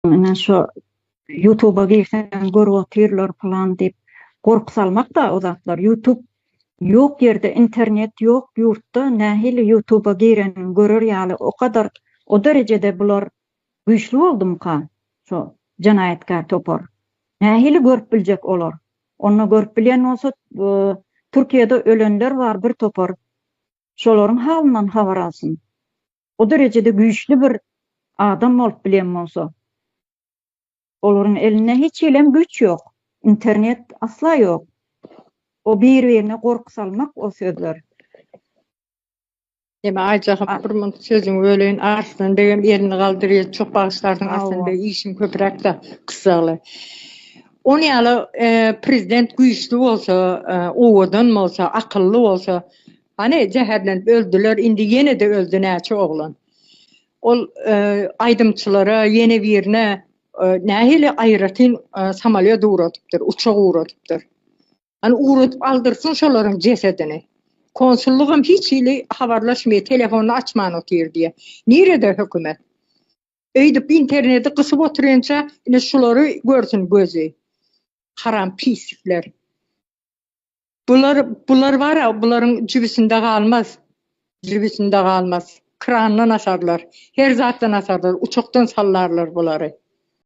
Ine şo ýutuba girseň görüp otyrlar pylan diýip gorky salmakda o zatlar ýutub ýok ýerde internet ýok ýurtda nähili ýutuba gireniň görer ýaly o kadar o derejede bular güýçli boldumyka şo jenaýatkär topar nähili görüp biljek olar onda görüp bilýän bolsa Türkiýede ölenler bar bir topar şolaryň halyndan habar alsyn o derejede güýçli bir adam bolup bilen bolsa, olaryň elinde hiç hilem güýç ýok, internet asla ýok. O bir-birine gorky salmak o sözler. Ýene Aýjahym bir munt sözüňi böleýin. Arslan begem elini galdyrýar. Çok bagyşlarsyň Arslan beg işiň köpüräkda gyssagly. Ony ýaly e, prezident güýçli bolsa, e, owadan bolsa, akylly bolsa, Hany zäherlenip öldüler indi ýenede öldi näçe oglan. Ol aýdymçylara ýene birine nähili aýratyn samalýot ugradypdyr uçak ugradypdyr. Hany ugradyp aldyrsyn şolaryň jesedini. Konsullygam hiç hili habarlaşmaýar telefonyny açman otyr diýe. Nirede hökümet. Öýdüp interneti gysyp otyrynça indi şulary görsün gözi. Haram pislikler. Bular, bular bar-a, bularyň jübüsinde galmaz. Jübüsinde galmaz. Krandan asarlar. Her zatdan asarlar. Uçakdan sallarlar bulary.